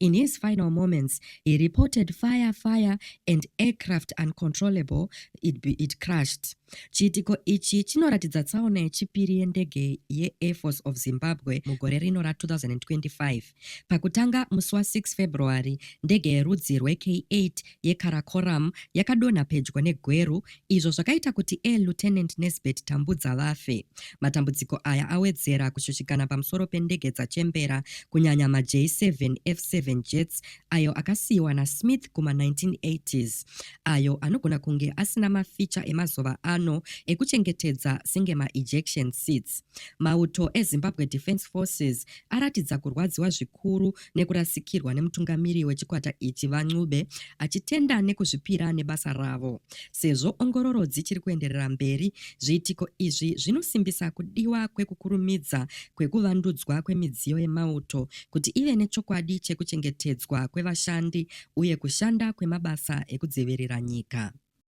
In his final moments, he reported fire, fire and aircraft uncontrollable, it, be, it crashed. Chiitiko ichi chinoratidza tsaona yechipiri yendege yeAir Force of Zimbabwe mugore rino ra2025. Pakutanga musi wa6 February, ndege yerudzi rweK8 yeKarakoram yakadonha pedyo neGweru izvo zvakaita kuti Air Lieutenant Nesbert Tambudza vafe. Matambudziko aya awedzera kushushikana pamusoro pendege dzachembera kunyanya maJ7 F7 jets ayo akasiyiwa naSmith kuma-1980s ayo anogona kunge asina maficha emazuva ano ekuchengetedza senge maejection seats. Mauto eZimbabwe Defence Forces aratidza kurwadziwa zvikuru nekurasikirwa nemutungamiri wechikwata ichi VaNcube achitenda nekuzvipira nebasa ravo. Sezvo ongororo dzichiri kuenderera mberi, zviitiko izvi zvinosimbisa kudiwa kwekukurumidza kwekuvandudzwa kwemidziyo yemauto kuti ive nechokwadi chekuchengetedzwa kwevashandi uye kushanda kwemabasa ekudzivirira nyika.